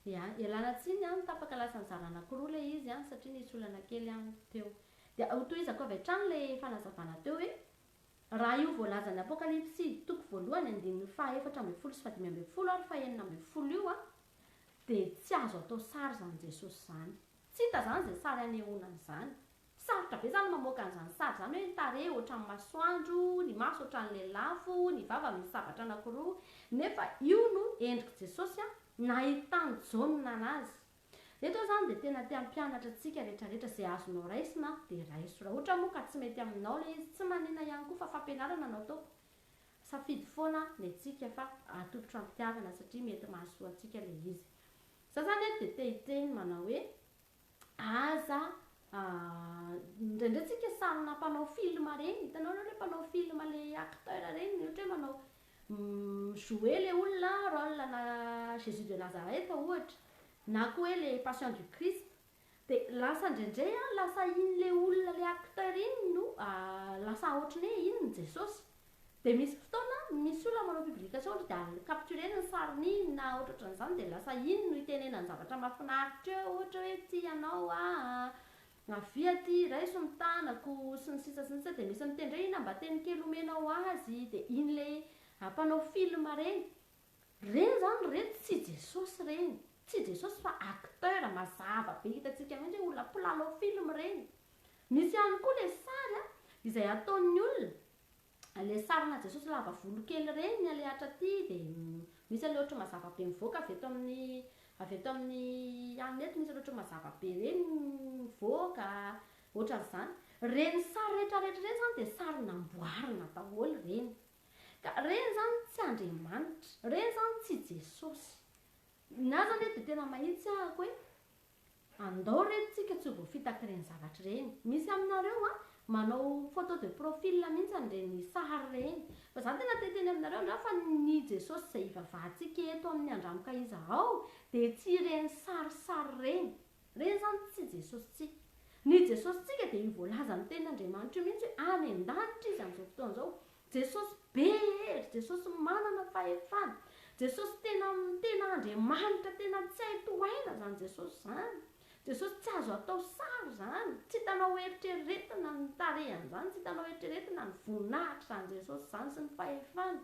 Dia ialana tsiny an, tapaka lasa nizara anakiroa ilay izy an, satria nisy olana kely an teo. Dia hotohizako avy hatrany ilay fanazavana teo hoe, Raha io voalazan'ny Apokalypsy, toko voalohany, andininy fahaefatra ambin'ny folo sy fahadimy ambin'ny folo ary fahenina ambin'ny folo io an, dia tsy azo atao sary izany Jesosy izany. Tsy hita izany izay sary hanehoana an'izany. Sarotra be zany mamoaka an'izany sary izany hoe ny tarehy ohatran'ny masoandro, ny maso ohatran'ny lelafo, ny vava misy sabatra anakiroa. Nefa io no endrik'i Jesosy nahitan'i Jaona azy. Eto aho izany dia tena te hampianatra antsika rehetrarehetra izay azonao raisina dia raiso. Raha ohatra moa ka tsy mety aminao ilay izy, tsy manina ihany koa fa fampianarana no ataoko. Safidy foana ny antsika fa atolotro am-pitiavana satria mety mahasoa antsika ilay izy. Za zany eto dia te hitreny manao hoe. Aza indraindray tsika sarina mpanao film reny hitanao nareo le mpanao film le acteur reny ohatra hoe manao mi jouer le olona role ana jesus de nazareth ohatra na koa hoe le passion du christ de lasa indraindray an lasa iny le olona le acteur iny no lasa ohatran'ny hoe iny no jesosy Dia misy fotoana misy olona manao publication ry dia capturer-ny ny sarin'i na ohatrohatran'izany dia lasa iny no itenenany zavatra mahafinaritra eo ohatra hoe tia anao aho, avia aty raiso ny tanako sy ny sisa sy ny sisa dia misy miteny hoe ina mba teny kely omenao azy dia iny ilay mpanao film ireny. Ireny izany re tsy Jesosy ireny, tsy Jesosy fa acteur mazava be hitantsika mihitsy hoe olona mpilalao film ireny. Misy ihany koa ilay sary izay ataon'ny olona le sarina Jesosy lava volo kely ireny ny alehatra aty dia misy anle ohatry ny mazava be mivoaka avy eto amin'ny avy eto amin'ny hanina eto misy anle ohatry ny mazava be ireny mivoaka ohatran'izany ireny sary rehetra rehetra ireny izany dia sary namboarina daholo ireny ka ireny izany tsy Andriamanitra ireny izany tsy Jesosy ny ahy izany dia tena mahitsy ahy ko hoe Andao re tsika tsy ho voafitaky ireny zavatra ireny. Misy aminareo a, manao photo de profil mihitsy an'ireny sary ireny. Fa za tena te hiteny aminareo angaha fa ny Jesosy izay ivavahantsika eto amin'ny andramoka izahao dia tsy ireny sarisary ireny. Ireny izany tsy Jesosintsika. Ny Jesosintsika dia io voalazan'ny tenin'Andriamanitra io mihitsy hoe any an-danitra izy amin'izao fotoana izao. Jesosy be hery, Jesosy manana fahefana, Jesosy tena tena Andriamanitra tena tsy hay tohaina zany Jesosy zany, Jesosy tsy azo atao sary zany, tsy hitanao eritreretina ny tarehany zany, tsy hitanao eritreretina ny voninahitry zany Jesosy zany sy ny fahefany.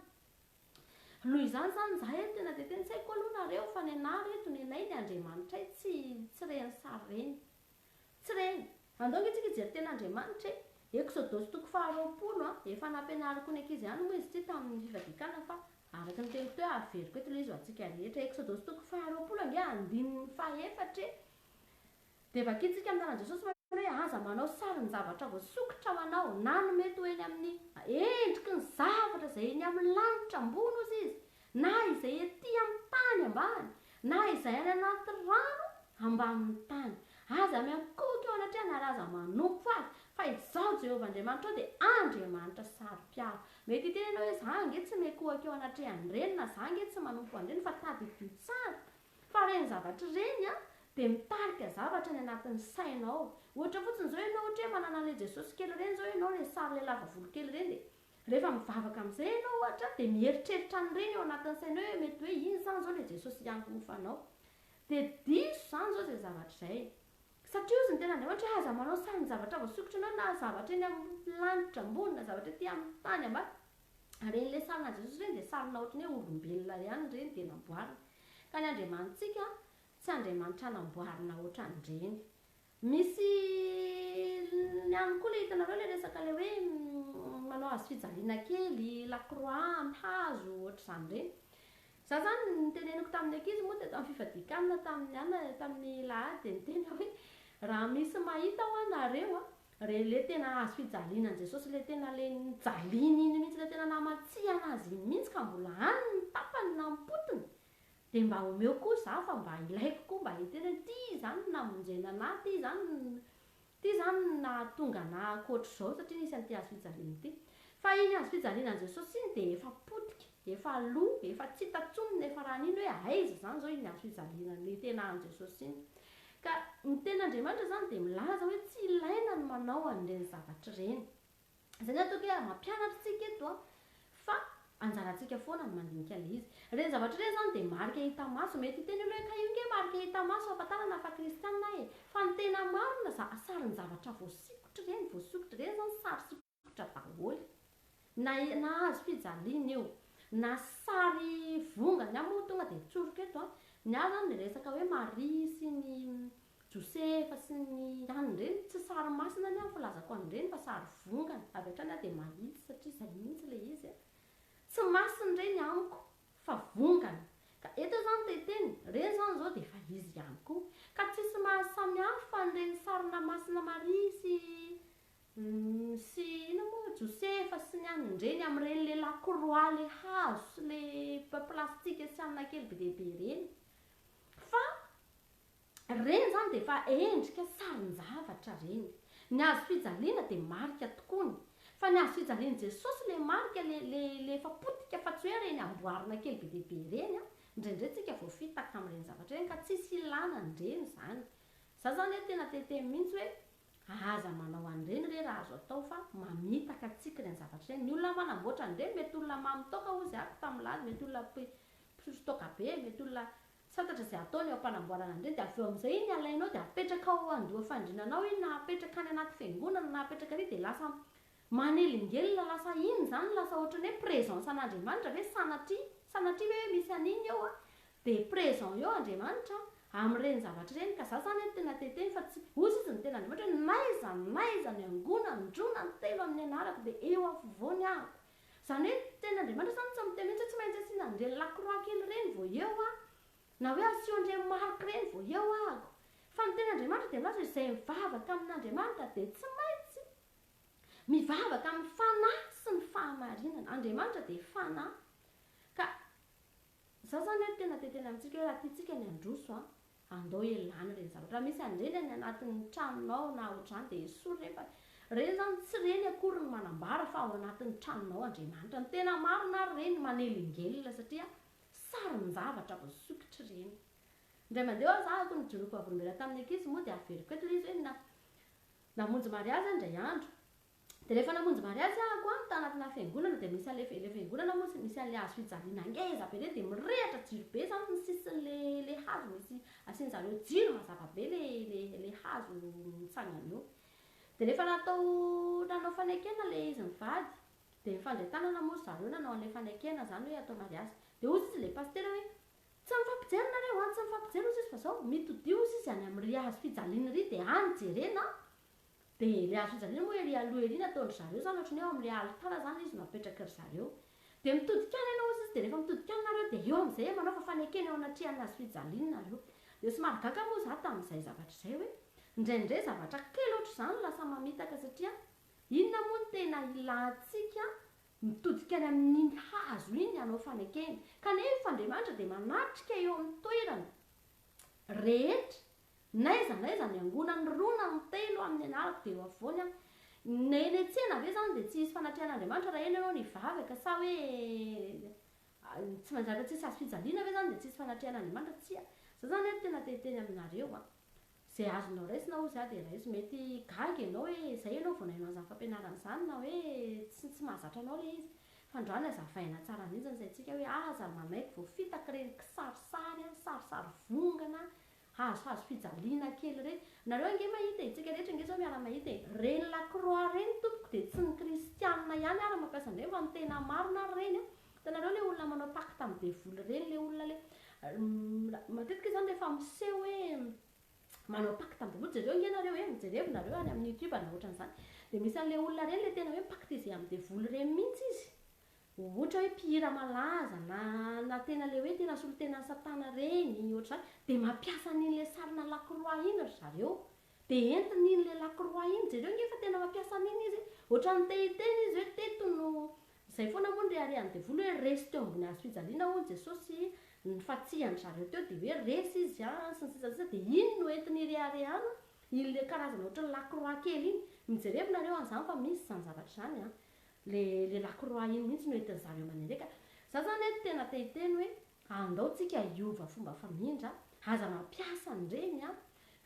Noho izany zany za eto tena de tena tsy haiko aloha nareo fa nenah reto nenay ny Andriamanitray tsy tsy reny sary reny. Tsy ireny. Andao nge tsika hijery tena Andriamanitra e! Eksodosy toko faha roapolo a! Efa nampianariko ny ankizy ihany moa izy ity tamin'ny fifadiakana fa araka ny teniko teo averiko eto ilay izy ho antsika rehetra. Eksodosy toko faha roapolo ange andininy faha efatra e! Dia vakintsika amin'ny anaran'i Jesosy manao hoe, Aza manao sarin'ny zavatra voasokitra manao, na ny mety ho eny amin'ny endriky ny zavatra izay eny amin'ny lanitra ambony ozy izy, na izay ety amin'ny tany ambany, na izay any anaty rano ambanin'ny tany, aza miankohoka eo anatrehany ary aza manompo azy, fa Izaho Jehovah Andriamanitrao dia Andriamanitra saro-piaro. Mety hiteny ianao hoe, 'Za ange tsy miankohoka eo anatrehan'ireny, na za ange tsy manompo an'ireny. Fa tadidio tsara fa ireny zavatra ireny dia mitarika zavatra any anatin'ny sainao. Ohatra fotsiny izao ianao, ohatra hoe manana an'ilay Jesosy kely ireny izao ianao, ilay sary lelava volokely ireny, dia Rehefa mivavaka amin'izay ianao ohatra dia mieritreritra an'ireny ao anatin'ny sainao hoe mety hoe iny izany izao ilay Jesosy hiangofa anao. Dia diso izany izao izay zavatra izay. Satria hozy ny Tenin'Andriamanitra hoe aza manao sarin-javatra voasokitra anao na zavatra eny amin'ny lanitra ambony na zavatra ety amin'ny tany ambany. Ary iren'ilay sarinan'i Jesosy ireny dia sarina ohatran'ny hoe olombelona ihany ireny dia namboarina. Ka ny Andriamanitsika tsy Andriamanitra namboarina ohatran'ireny. Misy ny aminy koa le hitanareo le resaka le hoe manao hazo fijaliana kely, lacroix, ny hazo, ohatr'izany ireny. Za zany ny teneniko tamin'ny ankizy moa teto amin'ny fifadian-kanina tamin'ny ana tamin'ny lahady dia ny teny hoe raha misy mahita hoa nareo a, re le tena hazo fijaliana an'i Jesosy le tena le nijaliany iny mihitsy le tena namatsiana azy iny mihitsy ka mbola any ny tapany na ny potiny Dia mba omeo koa za fa mba ilaiko koa mba hetena ty zany no namonjena anah ty zany ty zany no nahatonga anah akoatr'izao satria nisy an'ity hazo fijaliana ity fa iny hazo fijaliana an'i Jesosy iny dia efa potika efa lo efa tsy hita tsony ny efa raha nino hoe aiza zany zao iny hazo fijaliana ny tena an'i Jesosy iny ka ny tenin'Andriamanitra zany dia milaza hoe tsy ilaina ny manao an'ireny zavatra ireny Izany atao hoe mampianatra isika eto an, fa anjarantsika foana ny mandinika ilay izy. Ireny zavatra ireny izany dia marika hita maso. Mety hiteny olona hoe ka io nge marika hita maso ahafantarana fa kristiana e! Fa ny tena marina za, sarin-javatra voasikotra ireny, voasokitra ireny izany sary sikotra daholo. Na nahazo fijaliana io, na sary vonga, ny ahy moa tonga dia tsoriko eto an, ny ahy izany dia resaka hoe Maria sy ny Josefa sy ny an'ny reny, tsy sary masina ny ahy ny filazako an'ny reny fa sary vongana, avy hatrany aho dia mahitsy satria izay mihitsy ilay izy a! Tsy masina ireny amiko fa vongana, ka eto izany te hiteny, ireny izany izao dia efa izy ihany koa, ka tsisy mahasamy hafa an'ireny sarina masina Maria sy ny sy inona moa, Josefa sy ny an'ny reny amin'ireny ilay la croix ilay hazo sy ilay plastika sy anona kely be dia be ireny fa Ireny izany dia efa endrika sarin-javatra ireny. Ny hazo fijaliana dia marika tokoa ny. Fa ny hazo fijalian'i Jesosy ilay marika, ilay, ilay, ilay efa potika fa tsy hoe ireny amboarina kely be dia be ireny an. Indraindray isika voafitaka amin'ireny zavatra ireny ka tsisy ilana an'ireny izany. Izaho izany hoe tena te-hiteny mihitsy hoe aza manao an'ireny re raha azo atao fa mamitaka antsika ireny zavatra ireny. Ny olona manamboatra an'ireny mety olona mamy toaka hozy aho, mpamolaly, mety olona mpi, mpisotro toaka be, mety olona Tsy fantatra izay ataony eo am-panamboarana an'ireny dia avy eo amin'izay iny alainao dia apetraka ao an-doha fandriana anao iny na apetraka any anaty fiangonana na apetraka ary dia lasa manelingelina lasa iny izany lasa ohatran'ny hoe présence an'Andriamanitra ve sanatria sanatria ve misy an'iny eo an dia présent eo Andriamanitra amin'ireny zavatra ireny ka za zany tena te hiteny fa tsy hozy izy ny ten'Andriamanitra hoe n'aiza n'aiza miangona an-droa na an-telo amin'ny anarako dia eo afovoany aho Izany hoe teny Andriamanitra izany tsy miteny mihitsy hoe tsy maintsy asiana an'ireny la croix kely ireny vao eo aho, na hoe asio an'ireny marque ireny vao eo ahako. Fa ny teny Andriamanitra dia milaza hoe izay mivavaka amin'Andriamanitra dia tsy maintsy mivavaka amin'ny fanahy sy ny fahamarinana. Andriamanitra dia fanahy. Ka izany izany hoe tena dia tena amintsika hoe raha tiantsika ny handroso Andao ialana ireny zavatra. Raha misy handreny any anatin'ny tranonao na ohatr'izany dia esory ireny fa ireny izany tsy ireny akory no manambara fa ao anatin'ny tranonao Andriamanitra. Ny tena marina ary ireny manelingelina satria sarin-javatra voasokitra ireny. Indray mandeha ho'a zahako ny joroako vavolombelona tamin'ny ankizy moa dia averiko eto ilay izy hoe na namonjy mariazy aho indray andro Dia rehefa namonjy mariazy aho koa tanatina fiangonana dia misy ale ilay fiangonana moa misy an'ilay hazo fijaliana ngeza be ireny dia mirehatra jiro be izany ny sisin'ilay ilay hazo misy asian'zareo jiro mazava be ilay ilay ilay hazo mitsangana eo dia rehefa natao nanao fanekena ilay izy mivady dia nifandray tanana moa ry zareo nanao an'ilay fanekena izany hoe atao mariazy dia hozy izy ilay pasitera hoe tsy mifampijery nareo an tsy mifampijery hozy izy fa izao mitodio hozy izy any amin'ny ry hazo fijaliana ry dia any jerena an Dia ilay hazofijaliana moa ery aloha ery nataon-dry zareo izany ohatran'ny hoe ao amin'ilay alitara izany ilay izy no apetrak'ry zareo. Dia mitodika any ianao hozy izy dia rehefa mitodika any nareo dia eo amin'izay hoe manaova fanekena eo anatrehan'ny hazofijaliany nareo. Dia somary gaga moa izaho tamin'izay zavatra izay hoe indraindray zavatra kely ohatr'izany no lasa mamitaka satria inona moa no tena ilantsika mitodika any amin'iny hazo iny hanao fanekena? Kanefa Andriamanitra dia manatrika eo amin'ny toerana rehetra N'aiza n'aiza ny angonany roa na ny telo amin'ny anarako dia eo afovoany aho. Ny eny an-tsena ve izany dia tsy hisy fanatrehan'Andriamanitra raha eny ianao no hivavaka sa hoe tsy maintsy rehefa tsisy hazo fijaliana ve izany dia tsy hisy fanatrehan'Andriamanitra? Tsia. Izao izany aho tena te hiteny aminareo an. Izay azonao raisina hozy aho dia raiso. Mety gaga ianao hoe izay ianao vao naino an'izany fampianarana izany na hoe tsy tsy mahazatra anao ilay izy. Fa androany aza havaina tsara mihitsy ny saintsika hoe aza manaiky voafitaky ireny kisarisary an, sarisary vongana an, Hahazohazo fijaliana kely ireny. Nareo ange mahita e, isika rehetra ange izao miara mahita e. Reny lacroix reny tompoko dia tsy ny kristianina ihany ara mampiasa an'ireny fa ny tena marina ary ireny a. Hitanareo ilay olona manao pacte amin'ny devoly ireny ilay olona ilay matetika izany rehefa miseho hoe manao pacte amin'ny devoly, jereo ange nareo e, mijerevo nareo any amin'ny youtube na ohatran'izany dia misy an'ilay olona ireny ilay tena hoe mi-pacte izy amin'ny devoly ireny mihintsy izy. Ohatra hoe mpihira malaza na na tena le hoe tena solontenan'i satana reny ohatr'izany dia mampiasa an'iny le sarina lakroa iny ry zareo dia entiny iny le lakroa iny jereo nge fa tena mampiasa an'iny izy ohatran'ny te hiteny izy hoe teto no izay foana moa no reharehan'ny devoly hoe resy teo ambony hazo fijaliana hono jesosy nifatsihan-dry zareo teo dia hoe resy izy an sy ny sisa sy ny sisa dia iny no entiny ireharehana iny le karazana ohatran'ny lakroa kely iny mijerevy nareo an'izany fa misy izany zavatra izany an Le le lakroa iny mihitsy no entin zareo maneleka. Za zany eto tena te hiteny hoe andao tsika hiova fomba famindra, aza mampiasa an'ireny an!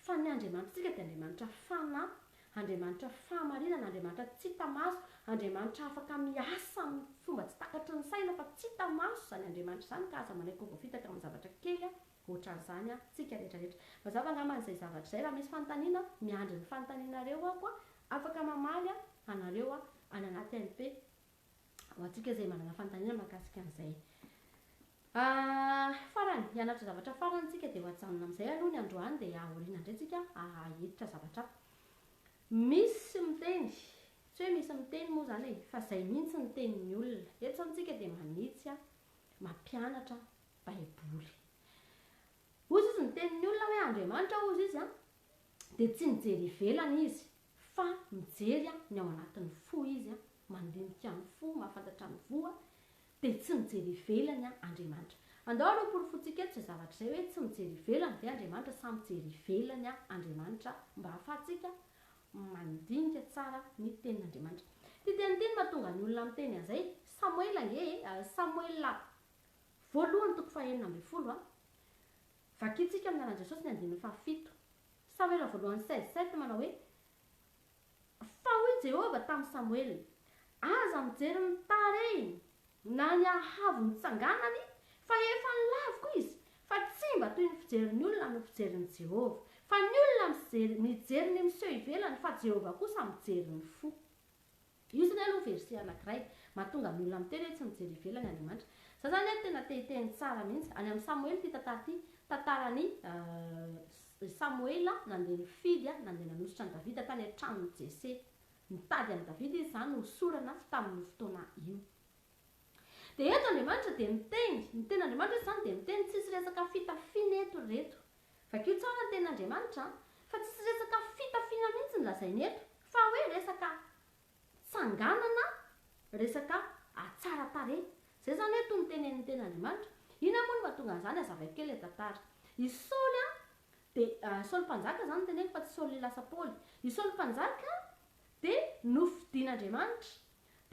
Fa ny Andriamanitritsika dia Andriamanitra fanahy, Andriamanitra fahamarinana, Andriamanitra tsy hita maso, Andriamanitra afaka miasa amin'ny fomba tsy takatry ny saina fa tsy hita maso izany Andriamanitra izany ka aza manaiky ho voafitaka amin'ny zavatra kely an! Otran'izany an, tsika rehetra rehetra. Mazava angambany izay zavatra izay, raha misy fanontaniana, miandry ny fanontanianareo aho an, afaka mamaly an, anareo an, any anaty MP, ho antsika izay manana fanontaniana mahakasika an'izay. Farany, hianatra zavatra farany tsika dia ho ajanona amin'izay aloha ny androany dia aoriana indray tsika hahiditra zavatra hafa. Misy miteny, tsy hoe misy miteny moa izany e, fa izay mihitsy ny tenin'ny olona. Eto izany tsika dia manitsy an, mampianatra an, Baiboly. Hozy izy miteny ny olona hoe Andriamanitra hozy izy an, dia tsy mijery ivelany izy fa mijery an ny ao anatin'ny fo izy an, mandinika ny fo, mahafantatra ny fo an, dia tsy mijery ivelany an Andriamanitra. Andao aloha hoporofointsika eto izay zavatra izay hoe tsy mijery ivelany ve Andriamanitra sa mijery ivelany an Andriamanitra mba hahafahantsika mandinika tsara ny tenin'Andriamanitra. Ity teny ity no mahatonga ny olona miteny an'izay, Samoela ange e, Samoela Voalohany toko fahenina ambin'ny folo a. Vakintsika amin'ny lalan'i Jesosy ny andininy fahafito. Samoela voalohany seize sept manao hoe, Fa hoy Jehovah tamin'i Samoela, Aza mijery ny tarehiny na ny haavo nitsanganany, fa efa laviko izy, fa tsy mba toy ny fijerin'ny olona no fijerin'i Jehovah. Fa ny olona mijery ny miseho ivelany, fa Jehovah kosa mijery ny fo. Io zany aloha verset anakiray mahatonga ny olona miteny hoe tsy mijery ivelany Andriamanitra. Za zany anie tena te hiteny tsara mihitsy, any amin'ny Samoela ity tantara ity, tantaran'i Samoela nandeha nifidy a, nandeha nanosotra an'i Davida tany an-tranon'i Jese. Nitady an'i Davida izy zany hosorana tsy tamin'io fotoana io. Dia eto Andriamanitra dia miteny, ny tenin'Andriamanitra eto zany dia miteny, tsisy resaka fitafiana eto ry reto, Vakio tsara ny tenin'Andriamanitra an! Fa tsisy resaka fitafiana mihitsy ny lazainy eto fa hoe resaka tsanganana resaka atsara tarehy. Zay zany hoe toy ny tenenin'ny tenin'Andriamanitra. Inona moa no mahatonga an'izany azavaiko kely le tantara. I Saoly an de Saoly mpanjaka zany no teneniko fa tsy Saoly lasa Paoly. I Saoly mpanjaka dia nofidin'Andriamanitra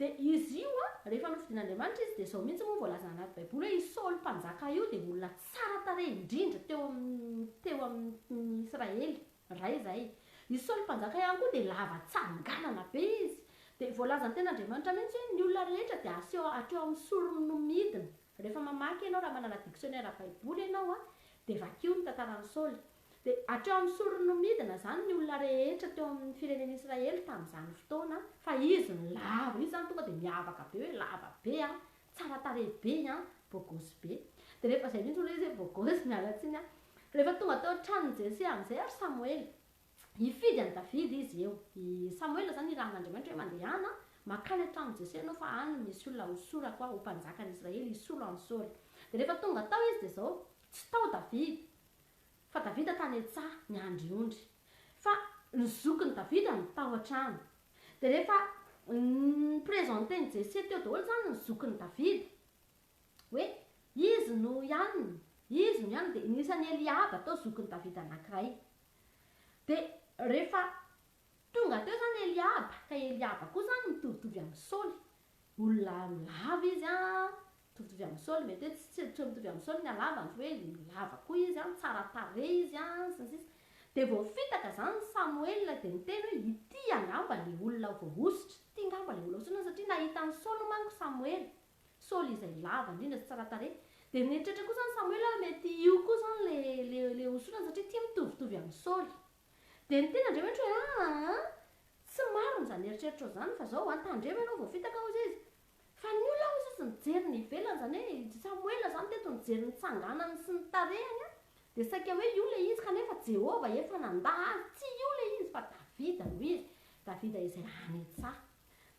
Dia izy io an, rehefa nofidin'Andriamanitra izy dia izao mihitsy moa voalazana anaty baiboly hoe i Saoly mpanjaka io dia olona tsara tarehy indrindra teo amin'ny teo amin'ny Israely iray izay. I Saoly mpanjaka ihany koa dia lava tsanganana be izy. Dia voalazan'ny tenin'Andriamanitra mihitsy hoe ny olona rehetra dia aseho hatreo amin'ny sorony no midina. Rehefa mamaky ianao raha manana dictionnaire baiboly ianao a, dia vakio ny tantaran'i Saoly. Dia hatreo amin'ny sorony no midina izany ny olona rehetra teo amin'ny firenen'i Israely tamin'izany fotoana fa izy no lava, izy izany tonga dia miavaka be hoe lava be a, tsara tarehy be a, bôgôsy be. Dia rehefa izay mihitsy olona izy hoe bôgôsy, miala tsiny a. Rehefa tonga teo an-tranon'i Jese amin'izay ary Samoela. Hifidy an'i Davida izy eo. I Samoela izany nirahan'Andriamanitra hoe, Mandehana mankany an-tranon'i Jese ianao, fa any no misy olona hosorako aho ho mpanjakan'ny Israely hisolo an'i Saoly. Dia rehefa tonga tao izy dia izao, tsy tao Davida, fa Davida tany an-tsaha miandry ondry. Fa ny zokin'i Davida no tao an-trano. Dia rehefa ni-presenter an'i Jese teo daholo izany ny zokin'i Davida. hoe izy no ihany, izy no ihany, dia nisy an'i Eliaba tao zokin'i Davida anankiray. Dia rehefa tonga teo izany Eliaba, ka Eliaba koa izany mitovitovy amin'i Saoly, olona lava izy an, mitovitovy amin'i Saoly, mety hoe tsy tsy mitovy amin'i Saoly ny halavany, fa hoe lava koa izy an, tsara tarehy izy an, sy ny sisa. Dia vao fitaka izany i Samoela dia niteny hoe ity angamba ilay olona voahosotra, ity angamba ilay olona hosotroina, satria nahita an'i Saoly manko Samoela. Saoly izay lava indrindra sy tsara tarehy dia nieritreritra koa izany Samoela hoe mety io koa izany ilay ilay hosorana satria ity mitovitovy amin'i Saoly. Dia ny teny Andriamanitra hoe aa tsy marina izany eritreritrao izany fa izao an tandremo ianao vao fitaka hozy izy fa ny olona hozy izy nijery ny ivelany izany hoe i Samoela izany teto nijery ny tsanganany sy ny tarehany an dia saika hoe io ilay izy kanefa Jehovah efa nandà azy tsy io ilay izy fa Davida no izy, Davida izay any an-tsaha.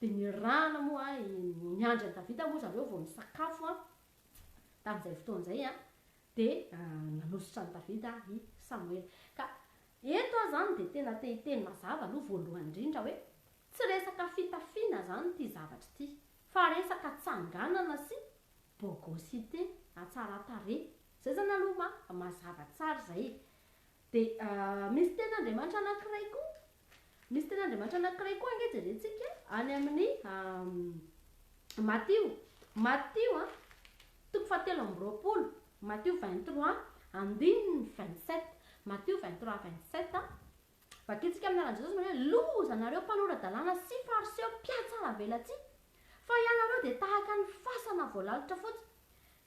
Dia nirahana moa ny miandry an'i Davida moa zareo vao nisakafo tamin'izay fotoana izay an, dia nanositra an'i Davida i Samoela. Ka eto aho izany dia tena te hiteny mazava aloha voalohany indrindra hoe tsy resaka fitafiana izany ity zavatra ity fa resaka tsanganana sy bogosité, hatsaran-tarehy. Izay izany aloha mazava tsara izay e. Dia misy tenin'Andriamanitra anankiray koa Misy ten'Andriamanitra anankiray koa ange jerentsika any amin'ny Matio, Matio a, toko fahatelo amby roapolo, Matio vingt trois andininy vingt sept, Matio vingt trois vingt sept a, vakintsika amin'ny anaran'i Jesosy manao hoe, Loza anareo mpanora-dalàna sy Fariseo mpihatsaravelatsihy, fa ianareo dia tahaka ny fasana voalalitra fotsiny,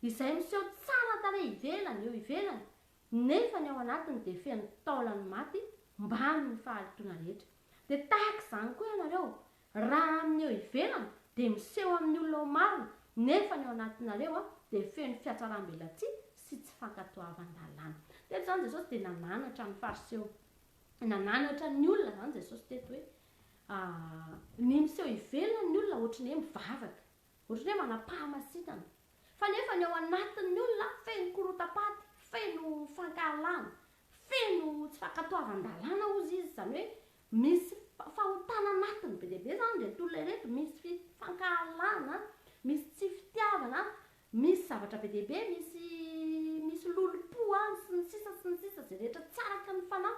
izay miseho tsara tarehy ivelany, eo ivelany, nefa ny ao anatiny dia feno taolan'ny maty mbamin'ny fahalotoana rehetra. Dia tahaka izany koa ianareo, raha amin'ny eo ivelany dia miseho amin'ny olona ho marina, nefa ny ao anatinareo dia feno fiatsaram-belatsihy sy tsy fankatoavan-dalàna. Teto izany Jesosy dia nananatra ny Fariseo, nananatra ny olona izany Jesosy teto hoe, ny miseho ivelany ny olona ohatry ny hoe mivavaka, Ohatran'ny hoe manam-pahamasinana. Fa nefa ny ao anatin'ny olona feno korotam-paty, feno fankahalana, feno tsy fankatoavan-dalàna hozy izy. Izany hoe misy fahotana anatiny be dia be izany ireto olona ireto, misy fankahalana, misy tsy fitiavana, misy zavatra be dia be, misy misy lolompo, sy ny sisa sy ny sisa, izay rehetra tsy araka ny fanahy.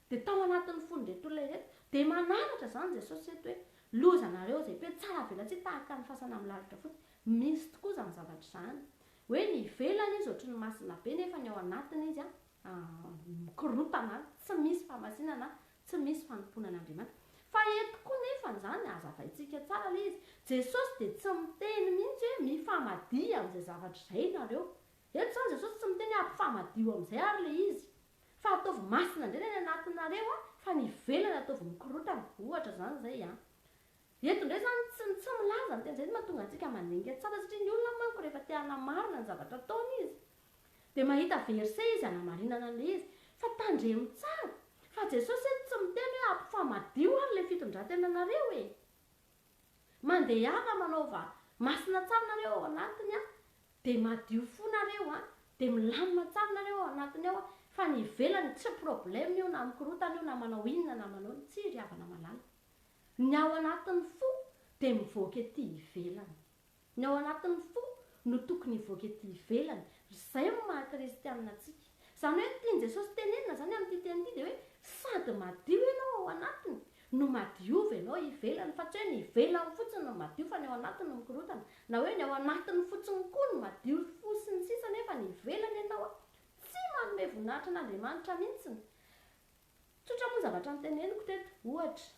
Dia tao anatin'ny fon'ireto olona ireto dia mananatra izany Jesosy ireto hoe, loza anareo izay mpino tsara velatsihy tahaka ny fasana amin'ny lalitra fotsy, misy tokoa izany zavatra izany, hoe ny ivelany izy ohatry ny masina be nefa ny ao anatiny izy mikorontana, tsy misy famasinana, tsy misy fanompoana an'Andriamanitra. Fa eto koa nefa izany hazavaintsika tsara ilay izy, Jesosy dia tsy miteny mihitsy hoe mifamadia amin'izay zavatra izay ianareo, eto izany Jesosy tsy miteny hoe ampifamadio amin'izay ary ilay izy, Fa ataovy masina indray ny any anatinareo a, fa ny ivelany ataovy mikorotana, ohatra izany izay a. Eto indray izany tsy ny tsy milaza ny teny izay no mahatonga antsika manenga tsara satria ny olona manko rehefa te hanamarina ny zavatra ataony izy dia mahita verset izy hanamarinana an'ilay izy fa tandremo tsara fa Jesosy eto tsy miteny hoe ampifamadio ary ilay fitondrantenanareo e! Mandehana manaova masina tsara nareo ao anatiny an, dia madio fo nareo an, dia milamina tsara nareo ao anatiny ao an, fa ny ivelany tsy problème io na mikorotana io na manao inona na manao inona, tsia ry havana malala. Ny ao anatiny fo dia mivoaka ety ivelany. Ny ao anatin'ny fo no tokony hivoaka ety ivelany. Ry izay no maha kristianina antsika. Izany hoe ny tian'i Jesosy tenenina izany amin'ity teny ity dia hoe sady madio ianao ao anatiny no madiova ianao ivelany fa tsy hoe ny ivelany fotsiny no madio fa ny ao anatiny no mikorotana na hoe ny ao anatiny fotsiny koa no madio fo sy ny sisa nefa ny ivelany ianao a tsy manome voninahitra an'Andriamanitra mihintsiny. Tsotra moa ny zavatra noteneniko teto. Ohatra.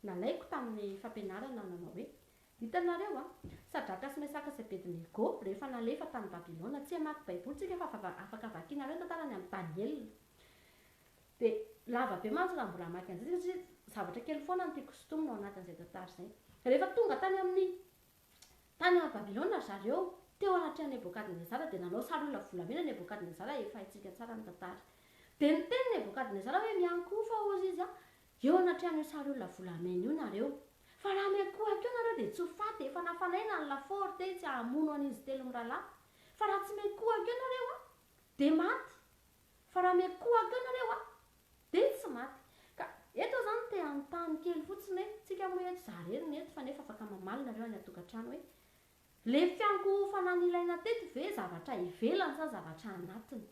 Nalaiko tamin'ny fampianarana nanao hoe, Hitanareo a, Sadraka sy Mesaka sy Abednego, rehefa nalefa tany Babylona, tsy hamaky Baiboly tsika fa va, afaka vakinareo ny tantarany amin'i Daniela. Dia lava be mantsy raha mbola hamaky an'izay tsika, satria zavatra kely foana no tiako sintomina ao anatin'izay tantara izay. Rehefa tonga tany amin'ny, tany Babylona ry zareo, teo anatrehan'i Nebokadnezara, dia nanao sary olona volamena Nebokadnezara, efa haintsika tsara ny tantara. Dia niteny Nebokadnezara hoe, Miankohofa, hozy izy a, Eo anatrehan'io sary olona volamena io nareo. Fa raha miankohaka eo nareo dia tsy ho faty, efa nafanaina ny lafaoro teny tsy hahamono an'izy telo miralahy. Fa raha tsy miankohaka eo nareo a! dia maty. Fa raha miankohaka eo nareo a! dia tsy maty. Ka eto zany te hanontany kely fotsiny hoe, tsika moa eto za rery no eto fa nefa afaka mamaly nareo any antokantrano hoe, le fiankohofana nilaina teto ve zavatra ivelany sa zavatra anatiny?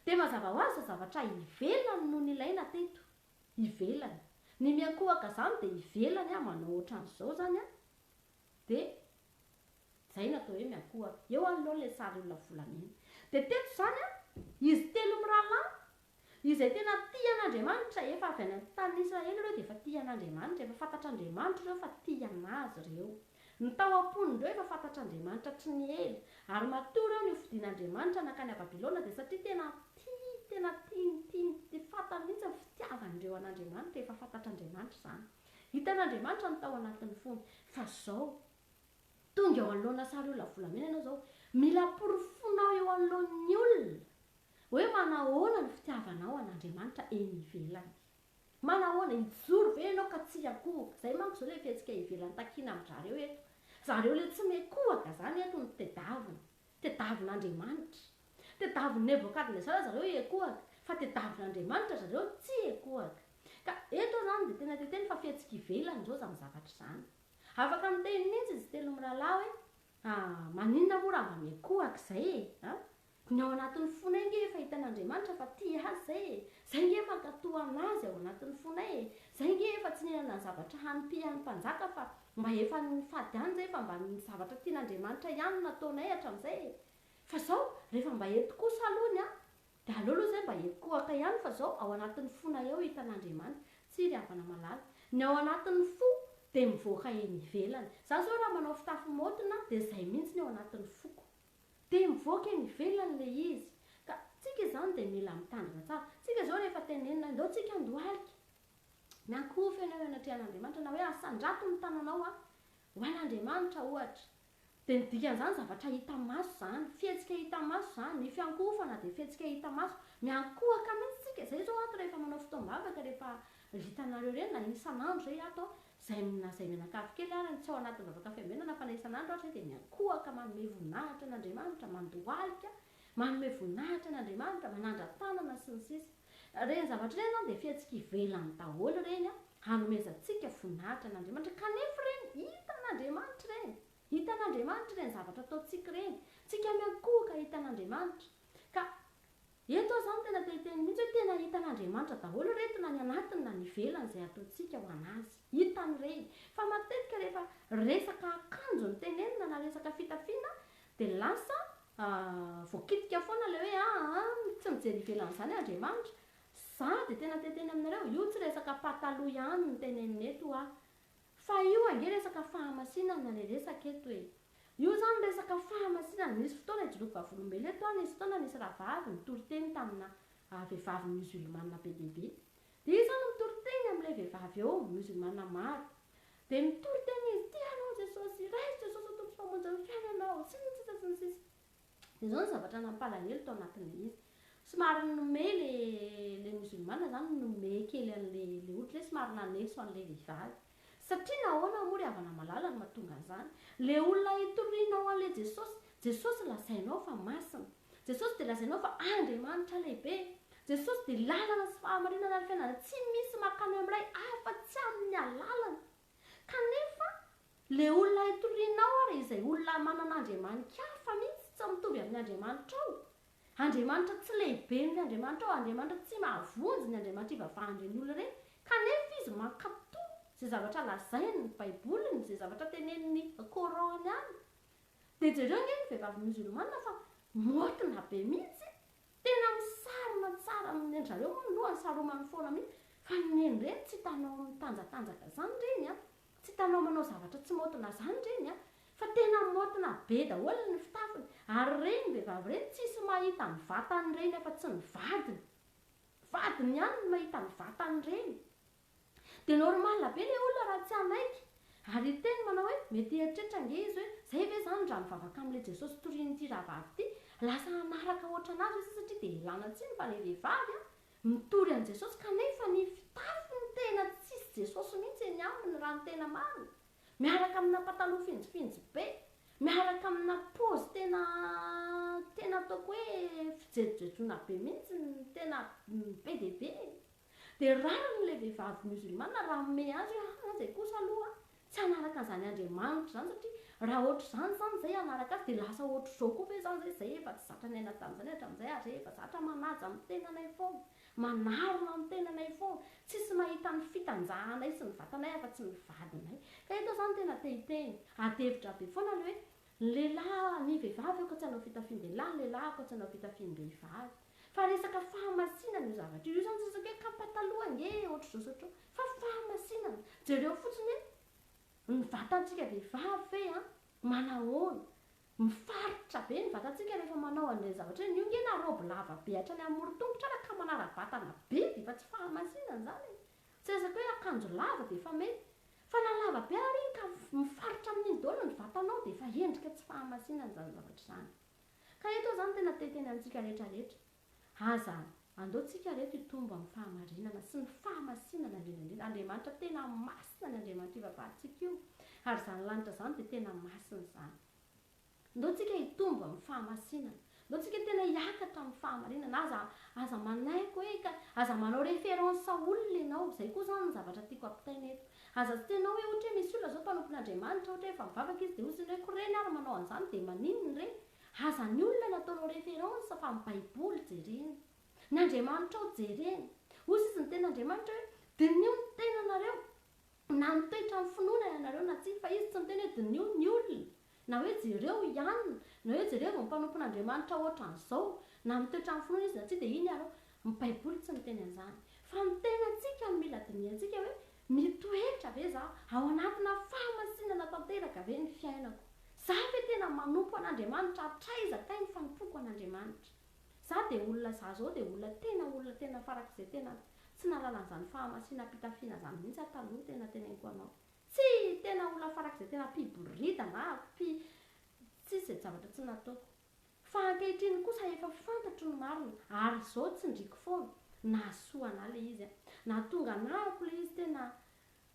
Dia mazava ho azy fa zavatra ivelany no nilaina teto. ivelany, ny miankohoka zany dia ivelany an, manao otran'izao zany an, dia zay no atao hoe miankohoka, eo alonao ilay sary olona volamena, dia teto zany an, izy telo mirahalahy, izay tena tia an'Andriamanitra, efa avy any amin'ny tanin'Israely ireo dia efa tia an'Andriamanitra, efa fantatr'Andriamanitra ireo fa tia an'Azy ireo. Ny tao am-pon'ireo efa fantatr'Andriamanitra tsy niely, ary matoa ireo nihofidin'Andriamanitra nankany à Babylona dia satria tena tia, tena tiany, tiany, tia fantany mihitsy ny fitiavan'ireo an'Andriamanitra, efa fantatr'Andriamanitra izany. Hitan'Andriamanitra ny tao anatin'ny fony. Fa izao, tonga eo anoloana sariolona volamena ianao izao, mila porofonao eo anoloan'ny olona hoe manahoana ny fitiavanao an'Andriamanitra eny ivelany. Manahoana, hijoro ve ianao ka tsy hiankohoka? Zay manko zao le fihetsika ivelan'ny takiana amin-drareo eto. Zareo le tsy miha kohaka zany eto no tedavina. Tedavin' Andriamanitra. Tedavin' Nebokadnezara zareo hiekohaka, fa tedavin' Andriamanitra zareo tsy hiekohaka. Ka eto zany de tena te teny fa fihetsika ivelany zao zany zavatra zany. Afaka miteny mintsy izy telo mirahalahy hoe, Ha, maninona moa raha mamehy kohaka izay e! Ha? Ny ao anatin'ny fonay ange efa hitan'Andriamanitra fa tia azy izay e! Izay ange mankatò an'Azy ao anatin'ny fonay e! Izay ange efa tsy nihinana ny zavatra hanimpihan'ny mpanjaka fa mba efa nifady any izay fa mba ny zavatra tian'Andriamanitra ihany no nataonay hatramin'izay e! Fa izao, rehefa mba eto kosa aloha ny ahy, Dia aleo aloha izay mba hikohaka ihany fa izao ao anatin'ny fonay ao hitan'Andriamanitra. Tsia ry havana malala. Ny ao anatin'ny fo dia mivoaka eny ivelany. Izaho izao raha manao fitafy maotina dia izay mihitsy ny ao anatin'ny foko. Dia mivoaka eny ivelany ilay izy. Ka tsika izany dia mila mitandrina tsara. Tsika izao rehefa tenenina indao tsika handohalika. Miankohoka ianao eo anatrehan'Andriamanitra na hoe asandrato ny tananao ho an'Andriamanitra ohatra. Dia ny dikan'izany, zavatra hita maso izany, fihetsika hita maso izany, ny fiankohofana dia fihetsika hita maso, miankohoka mihitsy isika, izay izao ato rehefa manao fotoam-bavaka, rehefa hitanareo ireny, na isan'andro izay ato, izay na izay mianakavy kely ary tsy ao anatin'ny vavaka fiambenana, fa na isan'andro ary izay dia miankohoka manome voninahitra an'Andriamanitra, mandohalika, Manome voninahitra an' Andriamanitra, manandra-tanana sy ny sisa Ireny zavatra ireny izany dia fihetsika ivelany daholo ireny hanomezantsika voninahitra an' Andriamanitra kanefa ireny hitan' Andriamanitra ireny. Hitan' Andriamanitra ireny zavatra ataontsika ireny. Tsika miankohoka hitan' Andriamanitra. Ka eto aho izany tena te hiteny mihitsy hoe tena hitan' Andriamanitra daholo ireto na ny anatiny na ny ivelany izay ataontsika ho an' Azy. Hitany ireny. Fa matetika rehefa resaka akanjo no tenenina na resaka fitafiana dia lasa A, voakitika foana ilay hoe aa a, tsy mijery ivelan'izany Andriamanitra. Za dia tena te hiteny aminareo, io tsy resaka pataloha ihany no tenenina eto hoa. Fa io ange resaka fahamasinana ilay resaka eto e. Io izany resaka fahamasinana, nisy fotoana hijoroako vavolombelona eto hoa, nisy fotoana nisy rahavavy nitoriteny tamina vehivavy musulmane be dia be. Dia izaho no mitory teny amin'ilay vehivavy eo, miozolmana maro. Dia mitory teny izy, Tia anao Jesosy, raiso Jesosy ho Tompo sy Mpamonjy ny fiainanao, sy ny sisa sy ny sisa. Dia izao ny zavatra nampalahelo tao anatin'ilay izy. Somary nomey ilay ilay miozolmana izany nomey kely an'ilay ilay ohatra hoe somary nanetso an'ilay vehivavy. Satria nahoana moa ry havana malala no mahatonga an'izany? Ilay olona itorianao an'ilay Jesosy, Jesosy lazainao fa masina. Jesosy dia lazainao fa Andriamanitra lehibe. Jesosy dia lalana sy fahamarinana ary fiainana. Tsy misy makany amin'ny Ray afa tsy amin'ny alalany. Kanefa, ilay olona itorianao ary izay olona manana andriamani-kafa mihitsy tsy mitovy amin'ny Andriamanitrao. Andriamanitra tsy lehibe noho ny Andriamanitrao. Andriamanitra tsy mahavonjy ny andriamanitr'i vavahan'ireny olona ireny. Kanefa izy mankato izay zavatra lazainy ny Baiboliny, izay zavatra tenenin'ny Coran ihany. Dia jereo anie ny vehivavy musulmana fa maotina be mihitsy, tena misarona tsara amin'ny endry, zareo moa ny lohany saromany foana mihitsy, fa ny neny ireny tsy hitanao mitanjatanjaka izany ireny an, tsy hitanao manao zavatra tsy maotina izany ireny an, fa tena maotina be daholo ny fitafiny, ary ireny vehivavy ireny tsisy mahita ny vatan'ireny afa-tsy ny vadiny, vadiny ihany no mahita ny vatan'ireny. Dia normal be ilay olona raha tsy hanaiky. Ary hiteny manao hoe mety hieritreritra ange izy hoe izay ve izany raha mivavaka amin'ilay Jesosy torian'ity rahavavy ity, lasa hanaraka hoatranazy ve satria dia elana tsiny fa ilay vehivavy an, mitory an'i Jesosy kanefa ny fitafiny tena tsisy Jesosy mihitsy eny aminy raha ny tena marina. Miaraka amina pataloha finjifinjy be. Miaraka amina pôzy tena tena ataoko hoe fijejojejona be mihitsy ny tena be dia be e. Dia rariny ilay vehivavy musulmane raha hanome azy hoe aa izay kosa aloha tsy hanaraka an'izany Andriamanitra izany satria raha ohatr'izany izany izay hanaraka azy dia lasa ohatr'izao koa ve izany izay izay efa tsy zatra niaina tamin'izany hatramin'izay ary izay efa zatra manaja ny tenanay foana, manarona ny tenanay foana, tsisy mahita ny fitanjahanay sy ny vatanay afa-tsy ny vadinay. Ka eto izany tena te hiteny, adihevitra be foana ilay hoe ny lehilahy, ny vehivavy aoka tsy hanao fitafian-dehilahy, ny lehilahy aoka tsy hanao fitafiam-behivavy. Fa resaka fahamasinana io zavatra io. Io zany tsy resaka hoe kapataloha ange ohatr'izao sy ohatr'izao. Fa fahamasinana. Jereo fotsiny hoe ny vatantsika vehivavy ve an, manahoana. Mifaritra be ny vatantsika rehefa manao an'ireny zavatra ireny. Io ange na raoby lava be hatrany amoron-tongotra ara ka manara-batana be dia efa tsy fahamasinana izany e. Tsy resaka hoe akanjo lava dia efa mety. Fa na lava be ary iny ka mifaritra amin'iny daholo ny vatanao dia efa endrika tsy fahamasinana izany zavatra izany. Ka eto izany tena te hiteny amintsika rehetra rehetra, aza andao tsika reto hitombo amin'ny fahamarinana sy ny fahamasinana indrindra indrindra Andriamanitra tena masina ny Andriamanitra io vavahantsika io ary izany lanitra izany dia tena masina izany ndao tsika hitombo amin'ny fahamasinana ndao tsika tena hiakatra amin'ny fahamarinana aza aza manaiky hoe ka aza manao référence olona ianao izay koa izany ny zavatra tiako ampitaina eto Aza sitenao hoe ohatra hoe misy olona zao mpanompo ny Andriamanitra ohatra hoe efa mivavaka izy dia hozy ny hoe ko reny ary manao anzany dia maninona re? Aza ny olona no ataonao référence fa ny baiboly jerena. Ny Andriamanitrao jerena. Hozy izy ny tena Andriamanitra hoe diniho ny tenanareo na mitoetra amin'ny finoana ianareo na tsia fa izy tsy miteny hoe diniho ny olona Na hoe jereo i Anna, na hoe jereo ny mpanompon'Andriamanitra hoatran'izao, na mitoetra amin'ny finoana izy na tsia, dia iny ary hoe, ny Baiboly tsy miteny an'izany. Fa ny tenantsika no mila dinihantsika hoe, Mitoetra ve izaho? Ao anatina fahamasinana tanteraka ve ny fiainako? Izaho ve tena manompo an'Andriamanitra hatraiza kay ny fanompoako an'Andriamanitra? Izaho dia olona izaho izao dia olona tena olona tena farak'izay tena tsy nahalala an'izany fahamasinam-pitafiana izany mihitsy aho taloha tena teneniko anao. Tsy tena olona farak'izay tena mpiboridana aho, mpy tsisy izay zavatra tsy nataoko. Fa ankehitriny kosa efa fantatro ny marina, ary izao tsindriko foana. Nahasoa anà ilay izy an! Nahatonga anahako ilay izy tena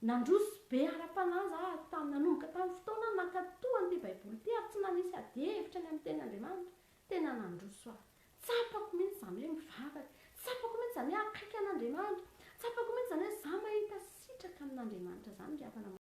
nandroso be ara-panahy za aho tam, nanomboka tamin'ny fotoana aho nankatoa an'ity Baiboly ity ary tsy nanisy adihevitra ny amin'ny Tenin'Andriamanitra. Tena nandroso aho. Tsapako mihitsy izany hoe mivavaka. Tsapako mihitsy izany hoe akaiky an'Andriamanitra. Tsapako mihitsy izany hoe izaho mahita sitraka amin'Andriamanitra izany ry havana maro.